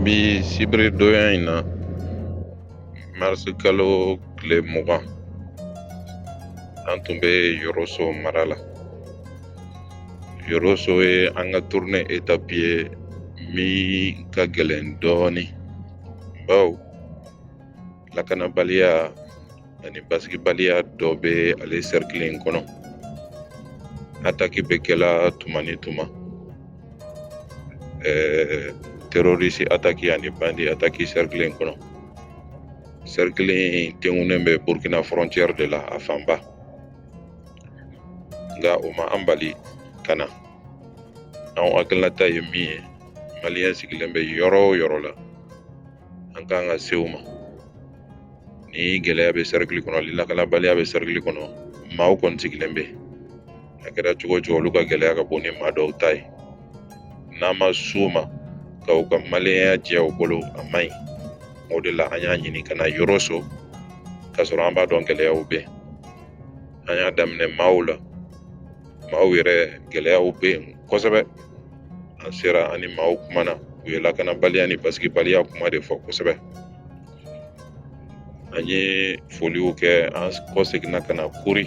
bi sibiri donya in na marisi kalo tile mugan an tun bɛ yɔrɔso mara la yɔrɔso ye an ka turune etapi ye min ka gɛlɛn dɔɔnin bawo lakanabaliya ani basigibaliya dɔ bɛ ale sɛrikili in kɔnɔ ataki bɛ kɛla tuma ni tuma ɛɛ terorisi ataki ani bandi ataki sɛrikili in kɔnɔ sɛrikili in tengunen bɛ burkina frontière de la a fanba nka o ma an bali ka na an hakilinata ye min ye maliyɛn sigilen bɛ yɔrɔ o yɔrɔ la an kan ka se u ma ni gɛlɛya bɛ sɛrikili kɔnɔ ni lakanabaliya bɛ sɛrikili kɔnɔ maaw kɔni sigilen bɛ a kɛra cogo o cogo olu ka gɛlɛya ka bon ni maa dɔw ta ye n'an ma s'u ma ka u ka maliyɛnya jɛ u bolo a man ɲi o de la an y'a ɲini ka na yɔrɔso k'a sɔrɔ an b'a dɔn gɛlɛyaw bɛ an y'a daminɛ mawu la mawu yɛrɛ gɛlɛyaw bɛ yen kosɛbɛ an sera an ni maaw kumana u ye lakanabaliya ni basigibaliya kuma de fɔ kosɛbɛ an ye foliw kɛ an kɔseginna ka na kuri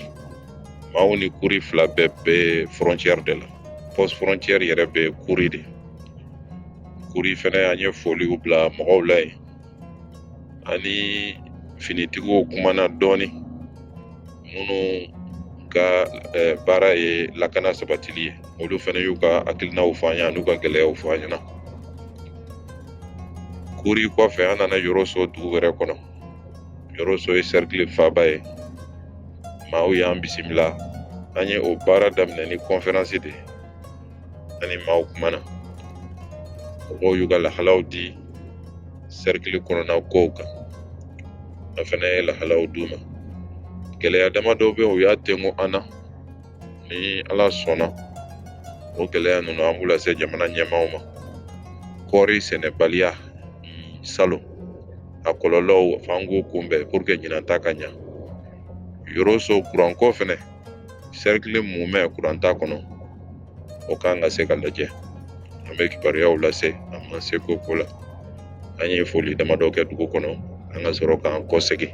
mawu ni kuri fila bɛɛ bɛ fɔrɔncɛri de la pɔs fɔrɔncɛri yɛrɛ bɛ kuri de kuri fɛnɛ an ye foliw bila mɔgɔw la yen an ni finitigiw kumana dɔɔnin minnu ka eh, baara ye lakana sabatili ye olu fɛnɛ y'u ka hakilinaw fɔ an ye an'u ka gɛlɛyaw fɔ an ɲɛna kuri kɔfɛ an nana yɔrɔso dugu wɛrɛ kɔnɔ yɔrɔso ye sɛrikili faaba ye maaw y'an bisimila an ye o baara daminɛ ni kɔnferansi de ye an ni maaw kumana mɔgɔw y'u ka lahalaw di sɛrikili kɔnɔna kow kan an fɛnɛ ye lahalaw d'u ma gɛlɛya dama dɔw bɛ yen u y'a tengu an na ni ala sɔnna o gɛlɛya ninnu an b'u lase jamana ɲɛmaaw ma kɔɔri sɛnɛbaliya salon a kɔlɔlɔw f'an k'o kunbɛn puruke ɲinan ta ka ɲa yɔrɔso kuranko fɛnɛ sɛrikili mumɛ kuran t'a kɔnɔ o kan ka se ka lajɛ an bɛ kibaruyaw lase an ma se ko ko la an ye foli damadɔ kɛ dugu kɔnɔ an ka sɔrɔ k'an kɔsegin